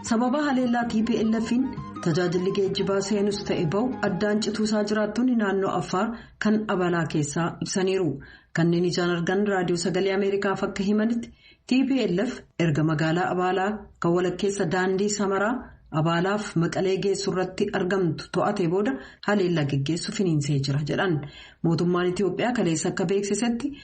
sababa haleellaa tplf'n tajaajilli geejjibaa seenus ta'e ba'u addaan cituusaa jiraattonni naannoo affaar kan abalaa keessaa ibsaniiru kanneen ijaan argan raadiyoo sagalee ameerikaaf akka himanitti tplf erga magaalaa abaalaa kan walakkeessa daandii samaraa abaalaaf maqalee geessu irratti argamtu to'ate booda haleellaa geggeessu finiinsee jira jedhan mootummaan itiyoophiyaa kaleessa akka beeksisetti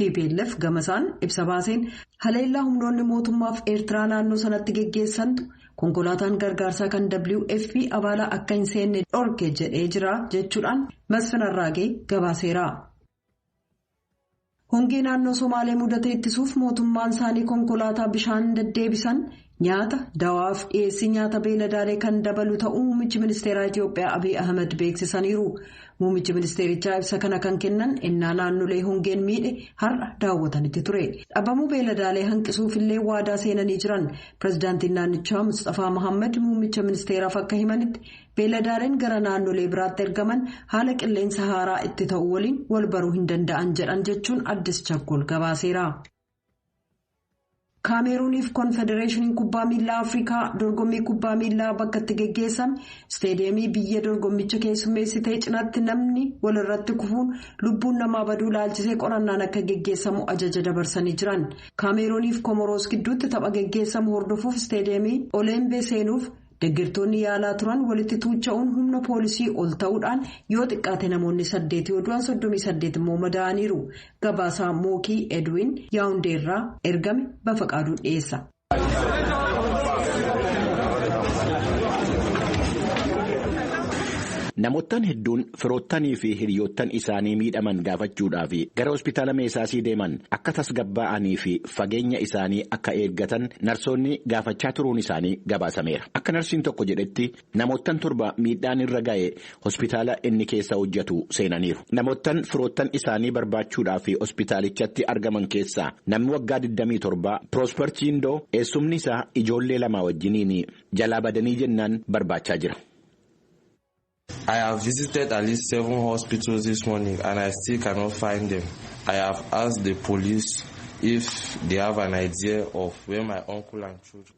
Tplf gamasaan ibsa baaseen haleellaa humnoonni mootummaaf Eertiraa naannoo sanatti geggeessantu konkolaataan gargaarsaa kan WFP abaalaa akka hin seenne dhorke jedhee jira jechuudhaan Masfin Arraagee gabaaseera. Hongee naannoo Somaalee mudate ittisuuf mootummaan isaanii konkolaataa bishaan deddeebisan Nyaata, dawaaf dhiyeessii nyaata beeladaalee kan dabalu ta'uu muummichi ministeeraa Itiyoophiyaa Abiy Ahimad beeksisaniiru. Muummichi ministeerichaa ibsa kana kan kennan ennaa naannolee hongeen miidhe har'a daawwatanitti ture. Dhabamuu beeladaalee hanqisuufillee waadaa seenanii jiran. Pireezidaantiin naannichaa Mustafaa Mohaammed muummicha ministeeraaf akka himanitti beeladaaleen gara naannolee biraatti ergaman haala qilleensa haaraa itti ta'u waliin wal baruu hin danda'an jedhan jechuun addis chakkol gabaaseera. kaameeruuniif konfedereeshiniin kubbaa miilaa afrikaa dorgommii kubbaa miilaa bakka itti geggeessan isteediyeemii biyya dorgommicha keessummeessitee cinaatti namni walirratti kufuun lubbuun namaa baduu laalchisee qorannaan akka geggeessamu ajaja dabarsanii jiran kaameeruuniif komoroos gidduutti tapha geggeessamu hordofuuf isteediyeemii oleembee seenuuf Deggertoonni yaalaa turan walitti tuucha'uun humna poolisii ol ta'uudhaan yoo xiqqaate namoonni saddeet yoo du'an soddomii saddeet immoo madaa'aniiru. Gabaasaa Mookii Edwin Yaawundee irraa ergame Bafaqaaduu dhiyeessa. Namoottan hedduun firoottanii fi hiriyoottan isaanii miidhaman gaafachuudhaaf gara hospitaala meesaasii deeman akka tasgabbaa'anii fi fageenya isaanii akka eeggatan narsoonni gaafachaa turuun isaanii gabaasameera. Akka narsiin tokko jedhetti namoottan torba miidhaan irra ga'e hospitaala inni keessa hojjetu seenaniiru. Namoottan firoottan isaanii barbaachuudhaaf hospitaalichatti argaman keessaa namni waggaa 27 Piroosper Chiindoo eessumni isaa ijoollee lamaa wajjiniin jalaa badanii jennaan barbaachaa jira. I have visited at least seven hospitals this morning and I still cannot find them. I have asked the police if they have an idea of where my uncle and children.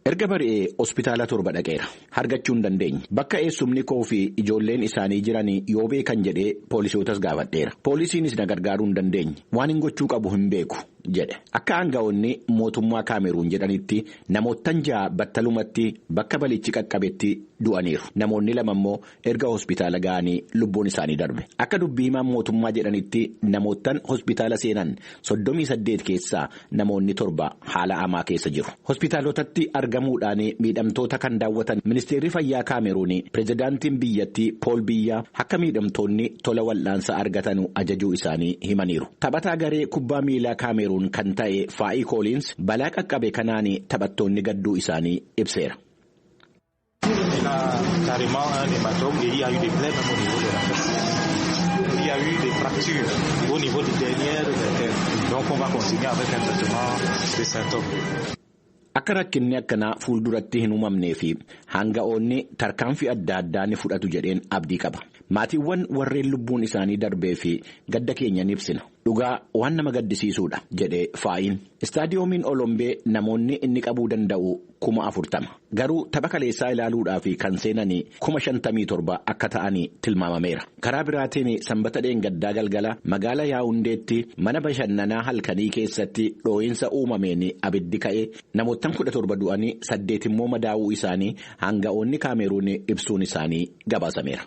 Erga bari'ee hospitaala torba dhaqeera. Hargachuu hin dandeenye. Bakka eessumni koo fi ijoolleen isaanii jiran yoo beekan jedhee poolisootas gaafadheera. Poolisiinis na gargaaruu hin dandeenye. Waan hin gochuu qabu hin beeku. jedhe. Akka aanga'oonni mootummaa Kaameruun jedhanitti namoottan ja'a battalumatti bakka balichi qaqqabetti du'aniiru. Namoonni lama immoo erga hospitaala ga'anii lubbuun isaanii darbe. Akka dubbii himaan mootummaa jedhanitti namoottan hospitaala seenan soddomii saddeet keessaa namoonni torba haala hamaa keessa jiru. Hospitaalotatti argamuudhaan miidhamtoota kan daawwatan ministeerri fayyaa Kaameruun pirezidaantiin biyyattii Pool Biyyaa akka miidhamtoonni tola wal'aansa argatan ajajuu isaanii himaniiru. Taphataa garee kubbaa miilaa Kaameruun kan ta'e Faa'ii Kooliins balaa qaqqabe kanaan taphattoonni gadduu isaanii ibseera. Akka rakkinni akkanaa fuulduratti hin uumamnee fi hanga'oonni tarkaanfii adda addaa ni fudhatu jedheen abdii qaba. Maatiiwwan warreen lubbuun isaanii darbee fi gadda keenya ni ibsina. Dhugaa waan nama gaddisiisuudha, jedhe Faayiin. Istaadiyoomiin Olombee namoonni inni qabuu danda'u kuma afurtama. Garuu tapha kaleessaa ilaaluudhaaf kan seenan kuma shantamii torba akka ta'an tilmaamameera. Karaa biraatiin sanbata dheengaddaa galgala magaala Yaawundeetti mana bashannanaa halkanii keessatti dhoo'insa uumameen abiddi ka'e namoottan kudha torba du'anii saddeet immoo madaa'uu isaanii aanga'oonni Kaameeruun ibsuun isaanii gabaasameera.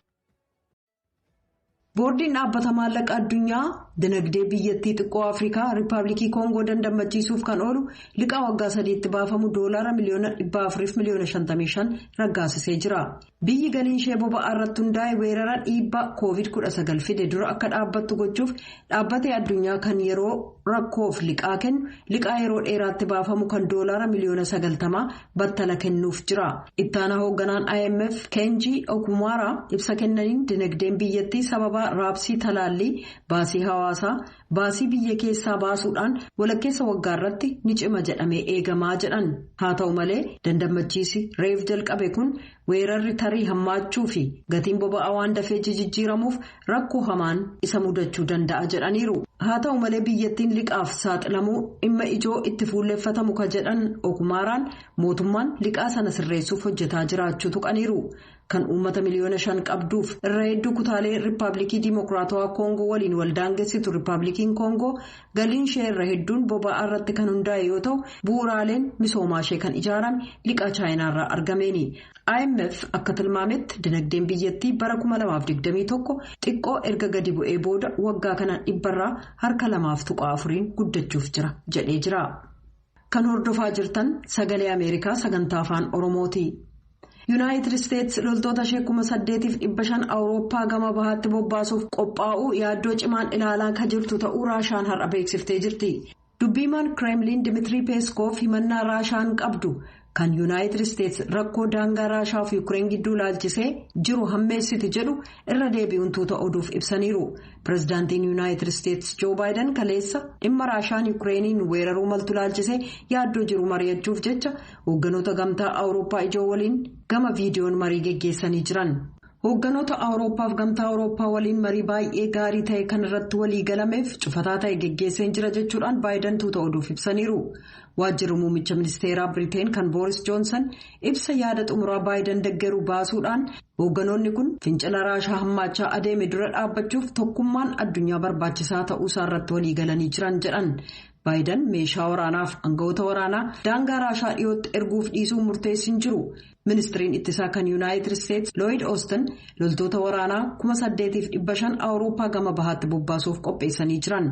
Boordiin dhaabbata maallaqa addunyaa dinagdee biyyattii xiqqoo Afrikaa Riippaabilikii Koongoo dandammachiisuuf kan oolu liqaa waggaa sadiitti baafamu doolaara miliyoona 400 miliyoona 55 raggaasisee jira. Biyyi galiin ishee boba'aa irratti hundaa'e weerara dhiibbaa COVID-19 fide dura akka dhaabbattu gochuuf Dhaabbatee addunyaa kan yeroo rakkoof liqaa kennu liqaa yeroo dheeraatti baafamu kan doolaara miliyoona sagaltamaa battala kennuuf jira. Ittaanaa hoogganaan IMF Keenjii Okumaara ibsa kennaniin dinagdeen biyyattii sababa raabsii talaallii baasii hawaasaa baasii biyya keessaa baasuudhaan walakkeessa waggaa irratti ni cima jedhamee eegamaa jedhan. Haa ta'u malee dandammachiisi reef jalqabe kun Weerarri tarii hammaachuu fi gatiin boba'aa waan dafee jijjiiramuuf rakkoo hamaan isa mudachuu danda'a jedhaniiru. Haa ta'u malee biyyattiin liqaaf saaxilamuu dhimma ijoo itti fuulleffatamu ka jedhan Okumaaraan mootummaan liqaa sana sirreessuuf hojjetaa jiraachuu tuqaniiru. Kan uummata miliyoona shan qabduuf irra hedduu kutaalee Riippaabilikii Diimokiraatawaa Koongoo waliin waldaangessitu Riippaabilikiin Koongoo Galiin ishee irra hedduun boba'aa irratti kan hundaa'e yoo ta'u bu'uuraaleen misoomaa ishee kan ijaarame liqaa chaayinaa irraa argameeni. IMF akka tilmaametti dinagdeen biyyattii bara 2021 xiqqoo erga gadi bu'ee booda waggaa kana dhibbarraa harka lamaaf tuqaa afuriin guddachuuf jira jedhee jira. Kan hordofaa jirtan sagalee Ameerikaa sagantaa afaan Oromooti. Yuunaayitid Isteetsi loltoota ishee kuma saddeetiif dhibba shan Awurooppaa gama bahaatti bobbaasuuf qophaa'uu yaaddoo cimaan ilaalaa kan jirtu ta'uu Raashaan har'a beeksiftee jirti. Dubbiimaan Kireemliin Dimitirii Peeskoof himannaa Raashaan qabdu Kan Yuunaayitid Isteets rakkoo daangaa Raashaa fi Yuukireen gidduu ilaalchisee jiru hammeessiti jedhu irra deebi'uun tuuta oduuf ibsaniiru. Pireezidaantiin Yuunaayitid Isteets Joo Baayiden kaleessa dhimma Raashaan Yuukireeniin weeraruu maltu ilaalchisee yaaddoo jiru mari'achuuf jecha hoogganoota gamtaa Awurooppaa ijoo waliin gama viidiyoon marii geggeessanii jiran. Hoogganoota Awurooppaaf gamtaa Awurooppaa waliin marii baay'ee gaarii ta'e kan irratti walii galameef cufataa ta'e geggeesseen jira jechuudhaan Baayidan tuuta oduuf ibsaniiru. Waajjirri muummicha ministeeraa Biriteen kan Booris Joonsan ibsa yaada xumuraa Baayidan deggeru baasuudhaan hoogganoonni kun fincila raashaa hammaachaa adeeme dura dhaabbachuuf tokkummaan addunyaa barbaachisaa ta'uusaa irratti walii galanii jiran jedhan. Baayidan meeshaa waraanaaf aangawoota waraanaa daangaa Raashaa dhiyootti erguuf dhiisuu murteessi hin jiru. Ministiriin ittisaa kan Yuunaayitid Isteets Looyid Oostin loltoota waraanaa kuma saddeetiif dhibba shan Awurooppaa gama bahaatti bobbaasuuf qopheessanii jiran.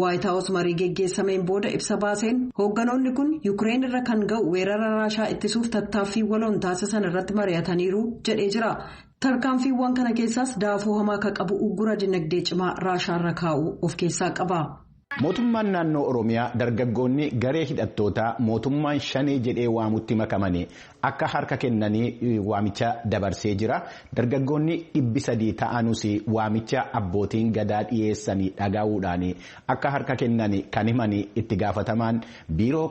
Waayit Haawus marii geggeessameen booda ibsa baaseen hoogganoonni kun Yukireen irra kan ga'u weerara Raashaa ittisuuf tattaaffii waloon taasisan irratti mari'ataniiru jedhee jira. Tarkaanfiiwwan kana keessaas daafuu hamaa akka qabu uggura dinagdee cimaa Raashaa irra kaa'uu of keessaa qaba. Mootummaan naannoo Oromiyaa dargaggoonni garee hidhattootaa mootummaan shanee jedhee waamutti makamanii akka harka kennanii waamicha dabarsee jira. Dargaggoonni dhibbi sadii ta'anuus waamicha abbootiin gadaa dhiyeessanii dhagahuudhaan akka harka kennan kan himan itti gaafatamaan biiroo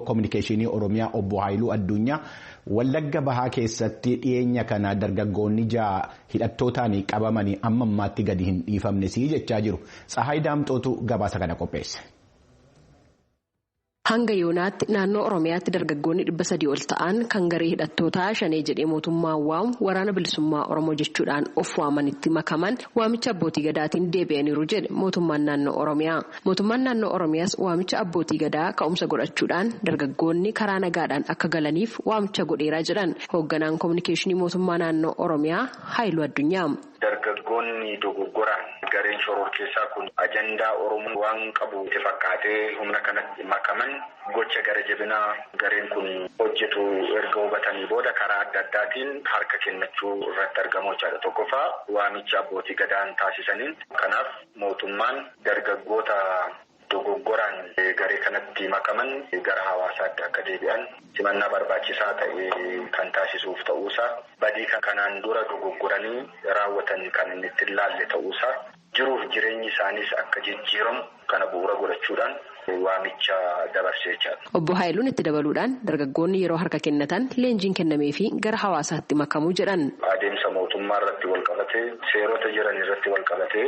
koominikeeshinii Oromiyaa obbo Haayiluu Addunyaa Wallagga Bahaa keessatti dhiyeenya kana dargaggoonni ja'a hidhattootaan qabamanii amma ammaatti gadi hin dhiifamnes jechaa jiru. Tsahaay Daamxootu gabaasa kana qopheesse. Hanga yoonaatti naannoo Oromiyaatti dargaggoonni dhibba sadii ol ta'an kan garee hidhattootaa shanee jedhee mootummaa waamu waraana bilisummaa Oromoo jechuudhaan of waamanitti makaman waamicha abbootii gadaatiin deebi'aniiru jedhe mootummaan naannoo Oromiyaa. Mootummaan Naannoo Oromiyaas waamicha Abbootii Gadaa ka'umsa godhachuudhaan dargaggoonni karaa nagaadhaan akka galaniif waamicha godheera jedhan Hoogganaan Kominikeeshinii Mootummaa Naannoo Oromiyaa Haayiluu Addunyaa. Dargaggoonni dogoggoraan gareen shororkeessaa kun ajandaa Oromoo waan qabu itti fakkaatee humna kanatti makaman gocha gara jabinaa gareen kun hojjetu erga hubatanii booda karaa adda addaatiin harka kennachuu irratti argamu jechaadha. Tokkoffaa waamicha Abbootii Gadaan taasisaniin kanaaf Mootummaan dargaggoota dogoggoraan garee kanatti makaman gara hawaasaatti akka deebi'an simannaa barbaachisaa ta'e kan taasisuuf ta'uusaa, badii kanaan dura dogoggoranii raawwatan kan inni itti hin laalle ta'uusaa, jiruuf jireenyi isaaniis akka jijjiiramu kana bu'uura godhachuudhaan. waamicha dabarse jechaadha. Obbo Haayiluun itti dabaluudhaan dargaggoonni yeroo harka kennatan leenjiin kennameefii gara hawaasaatti makamu jedhan. Adeemsa mootummaa irratti walqabatee seerota jiran irratti walqabatee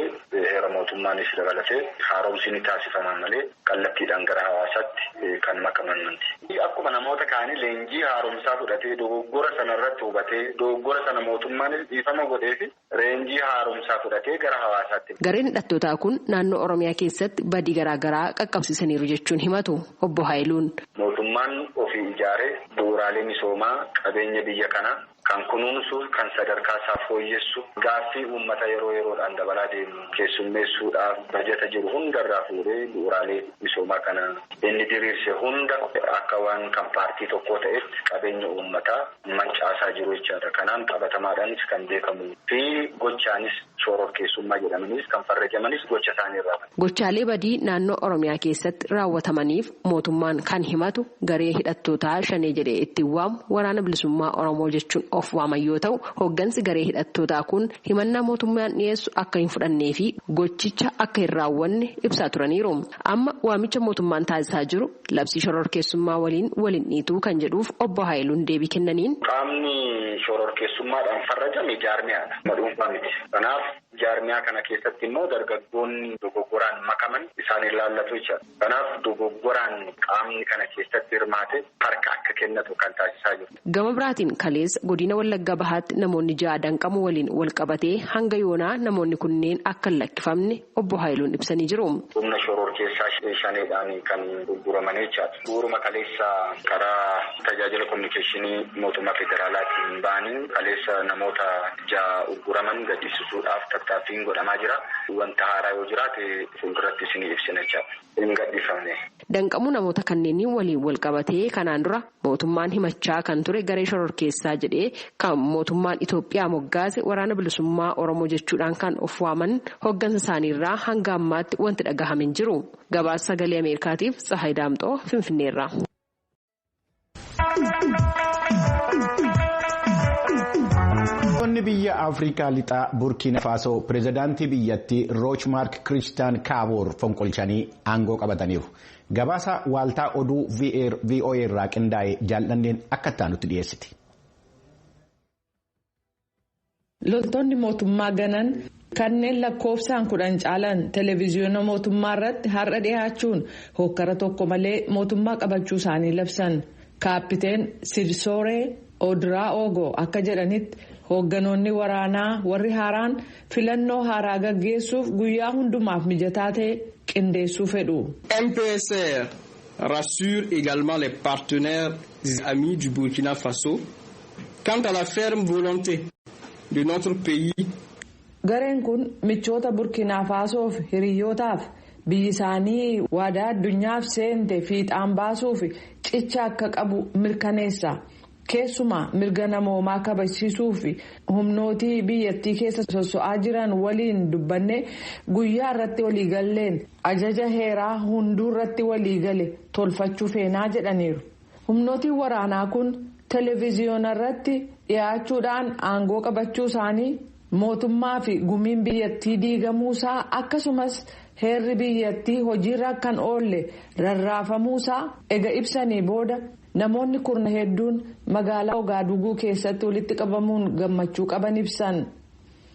heera mootummaanis dabalatee haaromsi ni taasifama malee kallattiidhaan gara hawaasaatti kan makaman miti. Akkuma namoota kaanii leenjii haaromsaa fudhatee dogoggora sana irratti hubatee dogoggora sana mootummaanis dhiifama godheefi Reenjii haaromsaa fudhatee gara hawaasaatti. Gareen hidhattootaa kun naannoo Oromiyaa keessatti badii garaa garaa qaqqabsiisaniiru jechuun himatu Obbo Haayiluun. Mootummaan ofii ijaare bu'uuraalee misoomaa qabeenya biyya kanaa kan kunuunsu, kan sadarkaa isaa fooyyessu, gaaffii uummata yeroo yeroodhaan dabalaa deemu keessummeessuudhaaf bajata jiru hundarraa fuudhee bu'uuraalee misoomaa kana inni diriirse hunda akka waan kan paartii tokkoo ta'etti qabeenya uummataa. mancaasaa jiru jechaadha. Kanaan qabatamaadhaanis kan beekamuu fi gochaanis shoororkeessummaa jedhamaniis kan farrajamanis gocha isaanii irraa. Gochaalee badii naannoo Oromiyaa keessatti raawwatamaniif mootummaan kan himatu garee hidhattootaa Shanee jedhee ittiin waamu Waraana Bilisummaa Oromoo jechuun of waaman yoo ta'u, hooggansi garee hidhattootaa kun himannaa mootummaan dhiyeessu akka hin fudhannee fi gochicha akka hin raawwanne ibsaa turaniiru. Amma waamicha mootummaan taasisaa jiru Labsii shororkeessummaa waliin wal hin dhiitu kan jedhuuf Obbo Haayiluun deebii kennaniin. Qaamni shororkeessummaadhaan farrajame jaarmiyaadha. Nama dhuunfaa miti. Kanaaf jaarmiyaa kana keessatti immoo dargaggoonni dogoggoraan makaman isaan ilaallatu jechuudha. Kanaaf dogoggoraan qaamni kana keessatti hirmaate harka akka kennatu kan taasisaa jiru. Gama biraatiin kaleessa Godina Wallagga Bahaatti namoonni ja'a danqamuu waliin walqabatee hanga yoonaa namoonni kunneen akka hin lakkifamne Obbo Haayiluun ibsanii jiru. Humna shororkeessaa shaneedhaan kan gurguraman jechaadha. Bu'uuruma kaleessa karaa tajaajila kominikeeshinii mootummaa federaalaatiin ba'aniin kaleessa namoota ja'a ugguraman gadhiisisuudhaaf tattaaffiin godhamaa jira. Wanta haaraa yoo jiraate fuulduratti isinii ibsina jechaadha. Hin gadhiifamne. Danqamuu namoota kanneenii waliin walqabatee kanaan dura mootummaan himachaa kan ture garee shororkeessaa jedhee kan mootummaan Itoophiyaa moggaase waraana bilisummaa Oromoo jechuudhaan kan of waaman hoggansa isaaniirraa hanga ammaatti wanti dhagahame hin jiru. Gabaasa sagalee Ameerikaatiif Tsahaay Daamxoo Finfinneerraa. Biyyoonni biyya Afrikaa lixaa Burkiina Faasoo pirezidaantii biyyattii Roochmaark Kiristaan Kaaboor fonqolchanii aangoo qabataniiru. Gabaasa waaltaa oduu VOA irraa qindaa'e jaal'anneen akka itti aanutti dhiyeessiti. Loltoonni mootummaa ganan kanneen lakkoofsaan kudhan caalan televiziyoona mootummaa irratti har'a dhihaachuun hookkara tokko malee mootummaa qabachuu isaanii labsan. Kaappiteen Sidsooree Odiraa'oogo akka jedhanitti hoogganoonni waraanaa warri haaraan filannoo haaraa gaggeessuuf guyyaa hundumaaf mijataa ta'e qindeessuu fedhu. MPSR rassure également les partenaires amis du Burkina Faso Quant à la ferme volonté de notre pays. Gareen kun michoota Burkiinaa Faasoof hiriyyootaaf biyyi isaanii waadaa addunyaaf seente fiixaan baasuuf cicha akka qabu mirkaneessa. Keessumaa mirga namoomaa kabajsiisuuf humnootii biyyattii keessa sosso'aa jiran waliin dubbannee guyyaa irratti waliigalleen ajaja heeraa hunduurratti waliigale tolfachuu feenaa jedhaniiru. Humnootiin waraanaa kun televiziyoonarratti dhiyaachuudhaan aangoo qabachuu isaanii, mootummaa fi gumiin biyyattii diigamuu isaa akkasumas heerri biyyattii hojiirra akka hin oolle rarraafamuu isaa ega ibsanii booda namoonni kurna hedduun magaalaa Ogaaduuguu keessatti walitti qabamuun gammachuu qaban ibsan.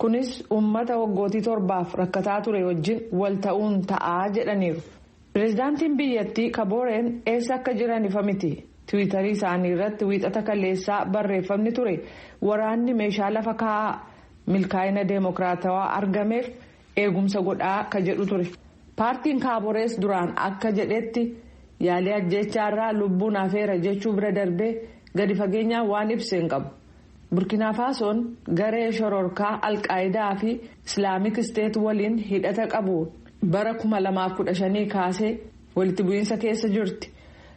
Kunis uummata waggootii torbaaf rakkataa ture wajjin wal ta'uun ta'a jedhaniiru. Pireezidaantiin biyyattii Kabooreen eessa akka jiran ifa miti. Tiwiitarii isaanii irratti wiixata kaleessaa barreeffamni ture waraanni meeshaa lafa kaa'aa, milkaa'ina deemokiraatawaa argameef eegumsa godhaa ka jedhu ture. Paartiin Kaaborees duraan akka jedhetti yaalii ajjeechaa irraa lubbuun hafeera jechuu bira darbee gadi fageenyaan waan ibse hin qabu. Burkinaafaasoon garee shororkaa Alqaayidaa fi Islaamik Isteet waliin hidhata qabu bara 2015 kaasee walitti bu'iinsa keessa jirti.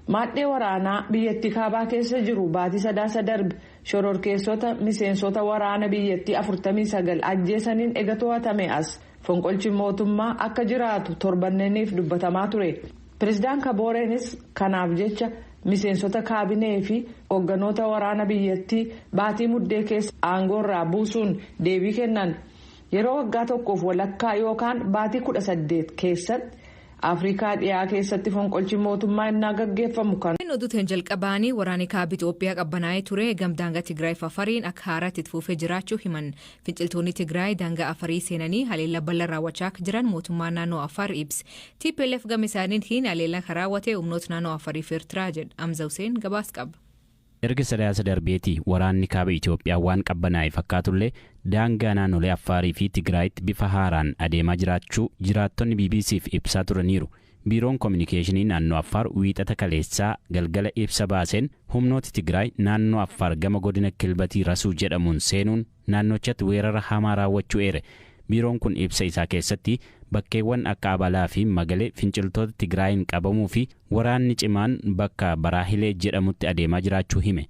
Maadhee waraanaa biyyattii kaabaa keessa jiru baatii sadaasa darbe shororkeessota miseensota waraana biyyattii 49 ajjeesaniin ega to'atame as Fonqolchi mootummaa akka jiraatu torbanneeniif dubbatamaa ture. Pireezidaan Kabooreenis kanaaf jecha miseensota kaabinee fi hoogganoota waraana biyyattii baatii muddee keessa aangoorraa buusuun deebii kennan. Yeroo waggaa tokkoof walakkaa yookaan baatii kudha saddeet keessatti Afrikaa dhiyaa keessatti fonqolchi mootummaa innaa gaggeeffamu kan. Oduuteen jalqabaanii waraanni kaaba Itoophiyaa qabbanaa'ee ture gamdaanga Tigraay Fafariin akka haaraatti itti fufee jiraachuu himan. Finciltoonni Tigraay daangaa Afarii seenanii haleellaa bal'aa raawwachaa akka jiran mootummaan naannoo Afaar ibse. TPLF gama isaaniitiin haleellaa kan raawwate humnoota naannoo Afarii fi Ertiraa jedha. Amza Huseen gabaas qaba. Erga Sadaasa darbeeti waraanni kaaba Itoophiyaa waan qabbanaa'e fakkaatullee daangaa naannolee Affaarii fi Tigraayitti bifa haaraan adeemaa jiraachuu jiraattonni BBC'f ibsaa turaniiru. Biiroon Kominikeeshinii Naannoo Affaar Wiixata kaleessaa galgala ibsa baaseen humnooti Tigraay naannoo Affaar gama godina Kilbatii Rasuu jedhamuun seenuun naannochatti weerara hamaa raawwachuu eere. Biiroon kun ibsa isaa keessatti bakkeewwan akka Abalaa fi Magale finciltoota Tigraayiin qabamuu fi waraanni cimaan bakka Baraahilee jedhamutti adeemaa jiraachuu hime.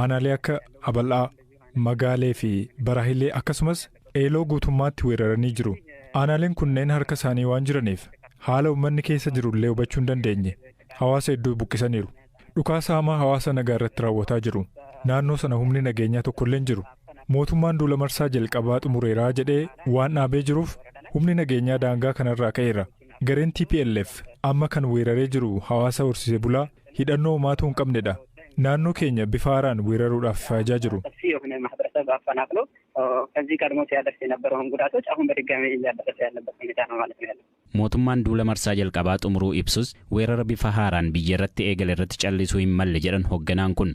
Aanaalee akka Abal'aa, Magaalee fi Baraahilee akkasumas Eeloo guutummaatti weeraranii jiru. Aanaaleen kunneen harka isaanii waan jiraniif haala ummanni keessa jiru illee hubachuu hin dandeenye. Hawaasa hedduu buqqisaniiru. Dhukaasa hamaa hawaasa nagaa irratti raawwataa jiru. Naannoo sana humni nageenyaa tokko illee hin jiru. Mootummaan duula marsaa jalqabaa xumureera jedhee waan dhaabee jiruuf humni nageenyaa daangaa kanarraa ka'eera. Gareen tplf amma kan weeraree jiru hawaasa horsiisee bulaa hidhannoo homaatuu hin qabne dha. Naannoo keenya bifa haaraan weeraruudhaaf faajaa jiru. Mootummaan duula marsaa jalqabaa xumuruu ibsus, weerara bifa haaraan biyya irratti eegale irratti callisuu hin malle jedhan hogganaan kun.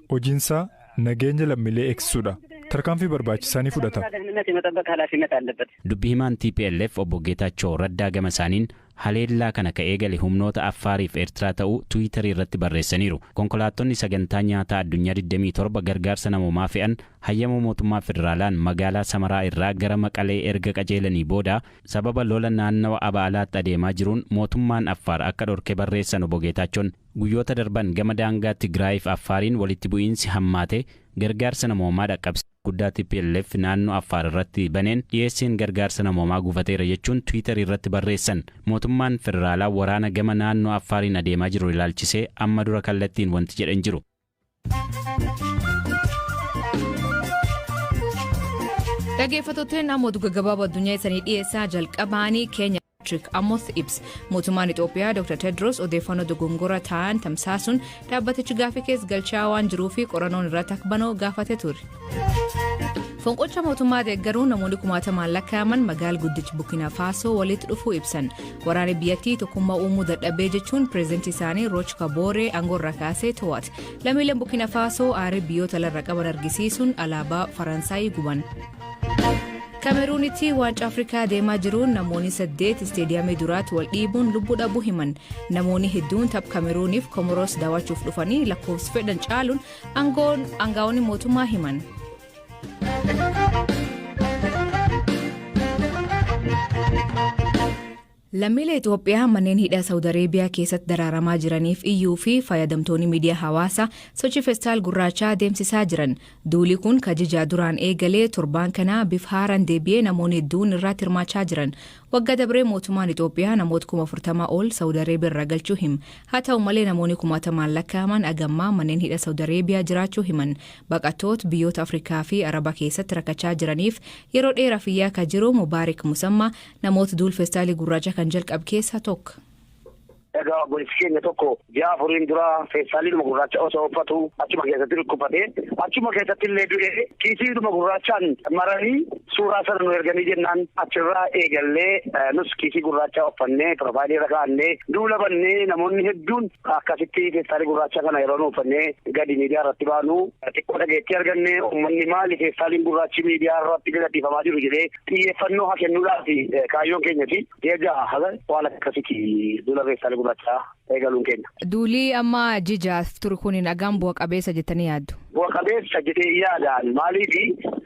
Hojiinsaa nageenya lammiilee eegsisuudha. Tarkaanfii barbaachisaa ni fudhata. Dubbi himaan tplf Obbo Geetaachoo Raddaa gama isaaniin, haleellaa kana ka eegale humnoota Affaariif Ertiraa ta'uu Twitter irratti barreessaniiru. Konkolaattonni Sagantaa Nyaataa Addunyaa 27 gargaarsa namoomaa fe'an hayyama mootummaa federaalaan magaalaa Samaraa irraa gara Maqalee erga qajeelanii booda sababa lola naannawa Aba'alaatti adeemaa jiruun mootummaan Affaar akka dhorke barreessan Obbo Geetaachoon. Guyyoota darban gama daangaa Tigraayiif Affaariin walitti bu'iinsi hammaate gargaarsa namoomaa dhaqqabsiisuu guddaa tplf naannoo Affaar irratti baneen dhiyeessiin gargaarsa namoomaa gufateera jechuun Twitter irratti barreessan. Mootummaan federaalaa waraana gama naannoo Affaariin adeemaa jiru ilaalchisee amma dura kallattiin wanti jedhe hin jiru. Dhaggeeffattootni naannoo oduu gaggabaaboo addunyaa isanii dhiyeessaa jalqabaanii keenya Patrick Amos ibsa. Mootummaan Itoophiyaa Dr. Tedros odeeffannoo dogongoraa ta'an tamsaasuun dhaabbatichi gaaffii keessa galchaa waan jiruu fi qorannoon irratti akka banuu gaafatee ture. Fonqolcha mootummaa deeggaruun namoonni kumaatamaan lakkaa'aman magaal guddicha Burkina Faasoo walitti dhufuu ibsan. Waraanni biyyattii tokkummaa uumuu dadhabee jechuun pireezidantii isaanii Rooch Kabooree aangoorraa kaasee to'ate. Lammiileen Burkina Faasoo aarii biyyoota lafarra qaban argisiisuun alaabaa Faransaayii guban. Kameruunitti waancaa Afrikaa deemaa jiruun namoonni saddeet isteediyaamii duraatti wal dhiibuun lubbuu dhabuu himan. Namoonni hedduun tapha Kameruuniif Komoros daawwachuuf dhufanii lakkoofsi fedhan caaluun aangaa'onni mootummaa himan. Lammiilee Itoophiyaa manneen hidhaa Saawud Areebiyaa keessatti daraaramaa jiraniif iyyuu fi fayyadamtoonni miidiyaa hawaasaa sochii festaal gurraachaa adeemsisaa jiran. Duuli kun kajijaa duraan eegalee torbaan kanaa bifa haaraan deebi'ee namoonni hedduun irratti hirmaachaa jiran. Wagga dabree mootumaan Ixoophiyaa namoot kuma 40 ol Sawud Areebiya irraa galchuu him. Haa ta'u malee namooni kumaatamaan lakkaa'aman agammaa manneen hidha Sawud Areebiyaa jiraachuu himan. Baqatoot biyyoota Afrikaa fi Araba keessatti rakachaa jiraniif yeroo dheeraf iyyaa ka jiru Mubaarik Musammaa namoot duul festaalii gurraacha kan jalqab keessa tok. Egaa obboleessi keenya tokko ji'a afuriin dura feestaaliidhuma gurraacha osoo uffatu achuma keessatti dhukkubsate achuma keessatti illee du'e kiisiidhuma gurraachaan maranii suuraa sana nu erganii jennaan achirraa eegallee nus kiisii gurraacha uffannee piroofaayilii irra kaa'annee duula bannee namoonni hedduun akkasitti feestaalii gurraacha kana yeroo nu uffannee gadi miidiyaa irratti baanu xiqqoo dhageettii arganne uummanni maali feestaaliin gurraachi miidiyaa irratti gadhiifamaa jiru jedhee xiyyeeffannoo haa kennuudhaaf kaayyoon keenyati. Ji'a jaha haga waan akkasitti duula reessaalee gurraachaa eegaluun keenya. Duuli amma ji jahaaf turu kun dhagaan bu'a qabeessa jettanii yaaddu? Bu'a qabeessa jedhee yaadaan maaliif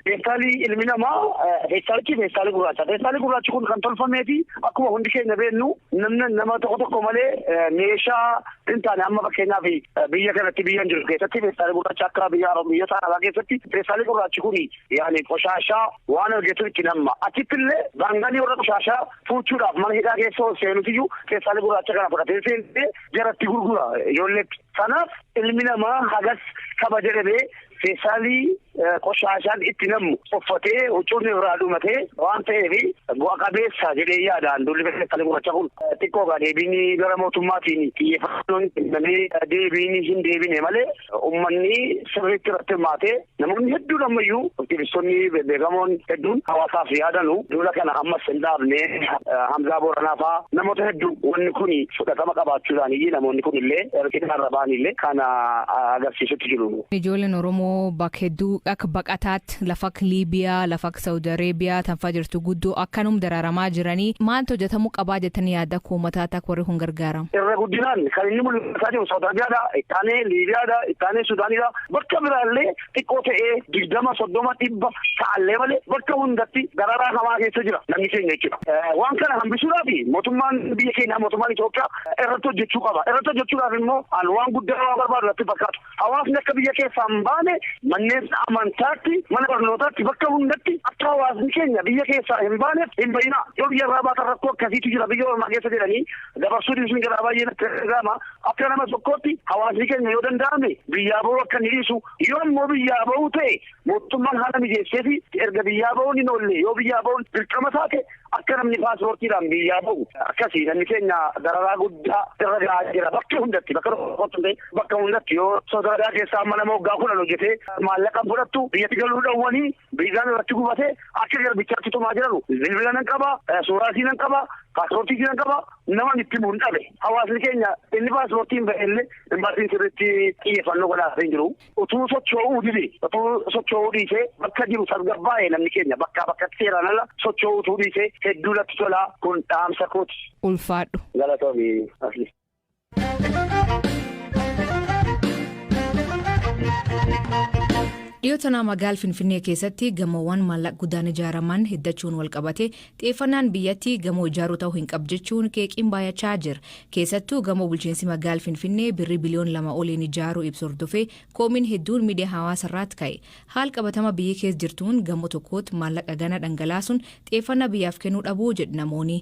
feestaalii ilmi namaa feestaalichi feestaalii gurraacha. Feestaalii gurraachi kun kan tolfamee fi akkuma hundi keenya beennu namni nama tokko tokko malee meeshaa hin taane amma fakkeenyaaf biyya kanatti biyya hin jiru keessatti feestaalii gurraacha akka biyya biyyoota arabaa keessatti feestaalii gurraachi kun Yaani qoshaashaa waan argetu itti namma. Achittillee baanganii warra qoshaashaa fuuchuudhaaf mana hidhaa keessa ol seenusiyyuu peestaalii gurraacha kana fudhatee seentee jaratti gurgura ijoolleetti. Kanaaf ilmi namaa hagas kabaja dhabee peestaalii qoshaashaan itti nammu uffatee huccuun irraa dhumatee waan ta'eef bu'a qabeessa jedhee yaada an duulli peestaalii gurraacha kun. Xiqqoo egaa deebiin gara mootummaatiin xiyyeeffannoon kennamee deebiin hin deebine malee ummanni sirriitti irratti hirmaatee Namoonni hedduun ammayyuu aktivistoonni bebbeekamoon hedduun hawaasaaf yaadanu duula kana ammas hin dhaabne. Hamzaa Booranaa faa namoota hedduu wanni kun fudhatama qabaachuu isaaniiyyii namoonni kunillee erga hidhaarra ba'aniillee kana agarsiisutti jiru. Ijoolleen Oromoo bak hedduu ak baqataatt laf ak Liibiyaa, laf ak Sa'udi Areebiyaa tan faa jirtu guddoo akkanum daraaramaa jiranii maalt hojjatamuu qabaa jettanii yaadda akka uummataatt akka warri kun gargaaram? Irra guddinaan kan inni mul'ataa jiru Sa'udi Arabiyaa dha, ittaanee Liibiyaa dha, ittaanee Sudaanii dha. Bakka biraallee xiqqoo ta'ee 20, 30, 100 ta'allee malee bakka hundatti dararaa hamaa keessa jira namni keenya jechuudha. Waan kana hambisuudhaaf mootummaan biyya keenyaa mootummaan Itoophiyaa irratti hojjechuu qaba. Irratti hojjechuudhaaf immoo an waan guddaa waan barbaadu natti hin fakkaatu. Hawaasni akka biyya keessaa hin baane manneen amantaatti, mana barnootaatti bakka hundatti akka hawaasni keenya biyya keessaa hin baaneef hin ba'inaa. Yoo biyya irraa baatan rakkoo akkasiitu jira biyya ormaa keessa jedhanii dabarsuu dhiisuun jedhaa baay'ee natti dhaga'ama. Akka nama tokkootti hawaasni keenya yoo danda'ame biyyaa bahuu akka inni dhiisu, yoo immoo biyyaa bahuu ta'e mootummaan haala mijeesseefii erga biyyaa bahuun hin oollee yoo biyyaa bahuun dirqama taate akka namni paaspoortiidhaan biyyaa bahu akkasii namni keenya dararaa guddaa irra gahaa jira bakka hundatti bakka tokkotti ta'e bakka hundatti yoo sodaa keessaa amma nama waggaa kudhan hojjetee maallaqa fudhattu biyyatti galuu dhowwanii Viizaan irratti gubate akka garbichaatti tumaa jiranu bilbila nan qaba, suuraa isii nan qaba, paaspoortii isii nan qaba, naman itti himuun dhabe. Hawaasni keenya inni paaspoortiin bahe illee imbaasiin sirriitti xiyyeeffannoo godhaafii hin jiru. Utuu socho'uu dide, utuu socho'uu dhiisee bakka jiru tasgabbaa'e namni keenya bakkaa bakkatti seeraan ala socho'uu utuu dhiisee hedduu natti tola kun dhaamsa kooti. Ulfaadhu. Galatoomi Asli. Dhiyoo tanaa magaal Finfinnee keessatti gamoowwan maallaqa guddaan ijaaraman hiddachuun walqabate xiyyeeffannaan biyyatti gamoo ijaaruu ta'uu hin qabu jechuun qeeqiin baay'achaa jira. Keessattuu gamoo bulchiinsi magaal Finfinnee birrii biliyoon lama oliin ijaaruu ibsu hordofee koomiin hedduun miidiyaa hawaasa irraatti ka'e. Haal qabatama biyyi keessa jirtuun gamoo tokkootti maallaqa gana dhangalaasuun xiyyeeffannaa biyyaaf kennuu dhabuu jedhu namoonni.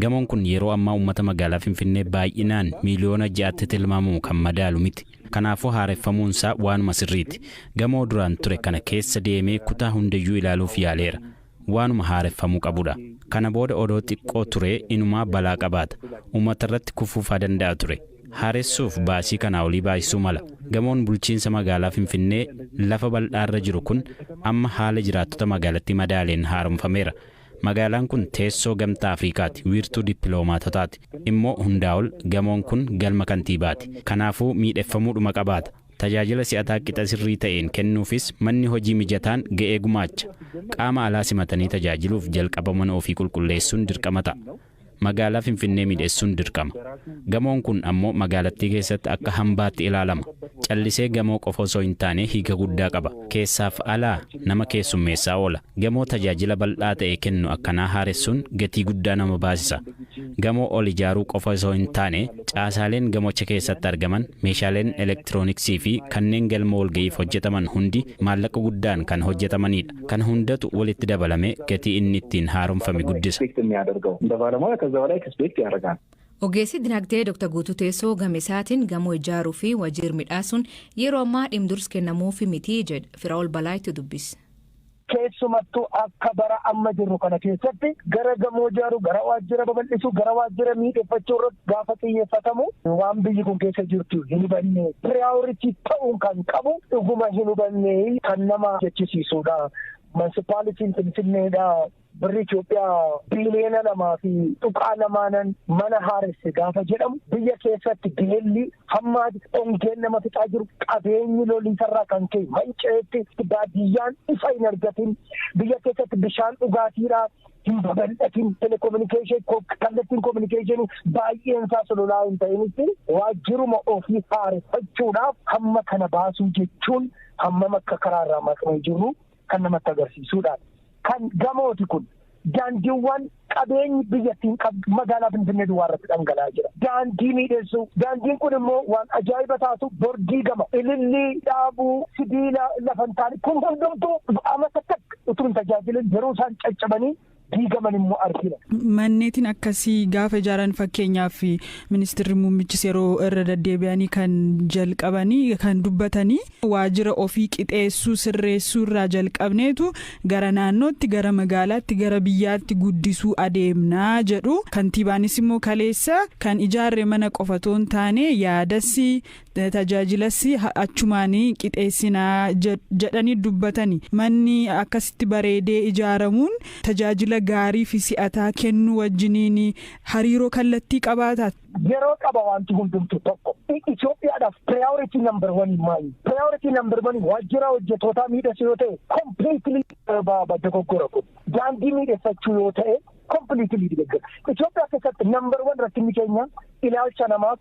Gamoon kun yeroo ammaa uummata magaalaa Finfinnee baay'inaan miiliyoona ja'atti tilmaamamu kan madaalu miti. Kanaafuu haareffamuunsaa waanuma sirriiti. Gamoo duraan ture kana keessa deemee kutaa hundayyuu ilaaluuf yaaleera. Waanuma haareffamuu qabudha. Kana booda odoo xiqqoo turee inumaa balaa qabaata. Uummatarratti kufuufaa danda'a ture. Haaressuuf baasii kanaa olii baasisuu mala. Gamoon bulchiinsa magaalaa Finfinnee lafa bal'aarra jiru kun amma haala jiraattota magaalattii madaaleen haaromfameera. Magaalaan kun teessoo Gamtaa Afrikaati, wiirtuu dippiloomaatotaati. Immoo hundaa ol, gamoon kun galma kantiibaati. Kanaafuu miidheffamuudhuma qabaata. Tajaajila si'ataa qixa sirrii ta'een kennuufis manni hojii mijataan ga'ee gumaacha. Qaama alaa simatanii tajaajiluuf jalqaba mana ofii qulqulleessuun dirqama ta'a. Magaalaa Finfinnee miidhessuun dirqama. Gamoon kun ammoo magaalattii keessatti akka hambaatti ilaalama. Callisee gamoo qofa osoo hin taane hiika guddaa qaba. Keessaaf alaa nama keessummeessaa oola. Gamoo tajaajila bal'aa ta'e kennu akkanaa haaressuun gatii guddaa nama baasisa. Gamoo ol ijaaruu qofa osoo hin taane caasaaleen gamocha keessatti argaman, meeshaaleen elektirooniksiifi kanneen galma walga'iif hojjetaman hundi maallaqa guddaan kan hojjetamaniidha. Kana hundatu walitti dabalamee gatii inni ittiin haaromfame guddisa. Ogeessi dinagdee Dr. Guutuu Teessoo gama isaatiin gamoo ijaaruu fi wajiir midhaasuun yeroo ammaa dhimdurs kennamuufi miti jedha. Firaa'ol Balaaytu dubbise. Keessumattuu akka bara amma jirru kana keessatti gara gamoo ijaaruu, gara waajjira babal'isuu, gara waajjira miidheffachuu irratti Gaafa xiyyeeffatamu waan biyyi kun keessa jirtu hin hubanne. Priority ta'uun kan qabu dhuguma hin hubanne kan nama jechisiisuudha. Mansipaalitiin Finfinneedha. Birri Itoophiyaa biiliyoona lamaa fi tuqaa lamaanan mana haaresse gaafa jedhamu biyya keessatti beelli hammaa ongeen nama fixaa jiru qabeenyi loliisarraa kan ka'e manca'etti baadiyyaan ifa hin argatin biyya keessatti bishaan dhugaatiidha hin babal'atin telekominikeeshin kallattiin kominikeeshinii baay'een isaa sololaa hin ta'initti waajjiruma ofii haareffachuudhaaf hamma kana baasuu jechuun hammam akka karaa irraa maqnee jirru kan namatti agarsiisuudha. Kan gamooti kun daandiiwwan qabeenyi biyyattiin qabdu magaalaa Finfinnee duwwaa irratti dhangala'aa jira. Daandii miidhessuu daandiin kun immoo waan ajaa'iba taatu bordii gama ilillii dhaabuu sibiila lafantaan kun hundumtuu amma takka utuu hin tajaajilin yeroo isaan caccabanii diigaman immoo argina. Manneetiin akkasii gaafa ijaaran fakkeenyaaf ministeerri muummichis yeroo irra deddeebi'anii kan jalqabanii kan dubbatanii waajjira ofii qixeessuu sirreessuu irraa jalqabneetu gara naannootti gara magaalaatti gara biyyaatti guddisuu adeemnaa jedhu kantiibaanis immoo kaleessa kan ijaarre mana qofa otoo hin taane yaadas tajaajilas achumaani qixeessina jedhani dubbatani. Manni akkasitti bareedee ijaaramuun tajaajila gaarii fi si'ataa kennuu wajjiniin hariiroo kallattii qabaata. Yeroo qaba wanti hundumtu tokko. Itoophiyaadhaaf priority number one maali? Priority number one waajjira hojjetootaa miidhessu yoo ta'e completely dogoggora kun. Daandii miidhessachuu yoo ta'e completely dogoggora. Itoophiyaa keessatti number one rakkinni keenya ilaalcha namaaf